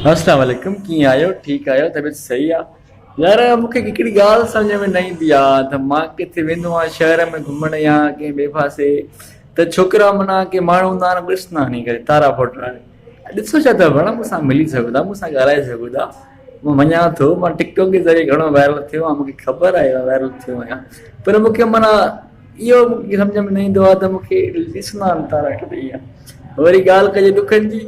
السلام عليڪم ڪيئن آهيو ٺيڪ آهيو طبيعت صحيح آ يار مون کي هڪڙي ڳالهه سمجهه ۾ نه ايندي آ ته مان ڪٿي ويندو آهيان شهر ۾ گهمڻ يا ڪنهن ٻئي پاسي ته ڇوڪرا معنيٰ ڪي ماڻهو هوندا آهن ڏس نه هڻي ڪري تارا ڦوٽ هڻي ڏسو ڇا ٿا ڀڻ مون سان ملي سگهو ٿا مون سان ڳالهائي سگهو ٿا مان مڃان ٿو مان ٽڪ ٽاڪ جي ذريعي گهڻو وائرل ٿيو آهيان مون کي خبر آهي مان وائرل ٿيو آهيان پر مون کي معنيٰ اهو مون کي سمجهه ۾ نه ايندو آ ته مون کي ڏسندا آهن تارا ڪي نه ائين وري ڳالهه ڪجي ڏکن جي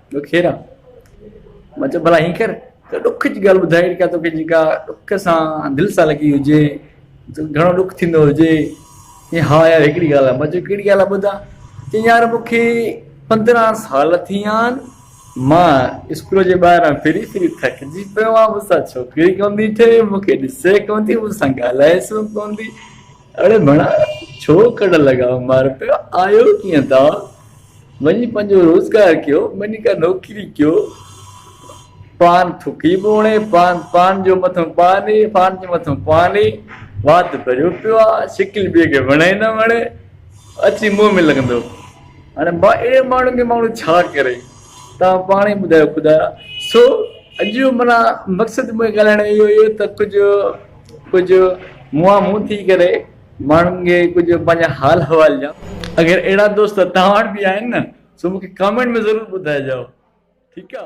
ڏکيرا، مان چيو ڀلا ائين ڪر ته ڏک جي ڳالهه ٻڌاء جيڪا توکي جيڪا ڏک سان دل سان لڳي هجي، گهڻو ڏک ٿيندو هجي، چيائين ها يار هڪڙي ڳالهه آهي، مان چيو ڪهڙي ڳالهه آهي ٻڌاء، چيائين يار مون کي پندرهن سال ٿي ويا آهن مان اسڪول جي ٻاهران ڦري ڦري ٿڪجي پيو آهيان، مون سان ڇوڪري ڪونه ٿي ٺهي، مون کي ڏسي ڪونه ٿي، مون سان ڳالهائيس به ڪونه ٿي، اڙي ڀڻا ڇو ڪڙ لڳاء مار پيو آيو ڪيئن ٿا وڃي پنهنجو روزگار ڪيو وڃي ڪا نوڪري ڪيو پان ٿڪي ٻوڻي پان پان جو مٿن پاني پان جو مٿن پاني وات ڀريو پيو آ شڪل ٻي کي وڻي نه وڻي اچي منهن ۾ لڳندو هاڻي ما اهڙي ماڻهو کي ماڻهو ڇا ڪري تان پاڻ ئي ٻڌايو خدايا سو اڄ جو منا مقصد مون ڳالهائڻ اهو هيو ته ڪجهه ڪجهه منهان منهن ٿي ڪري ماڻهن کي ڪجهه پنهنجا حال احوال ڏيان. اگر اهڙا دوست توهان وٽ به آهن نه سو مونکي ڪامينٽ ۾ ضرور ٻڌائجو ٺيڪ آ.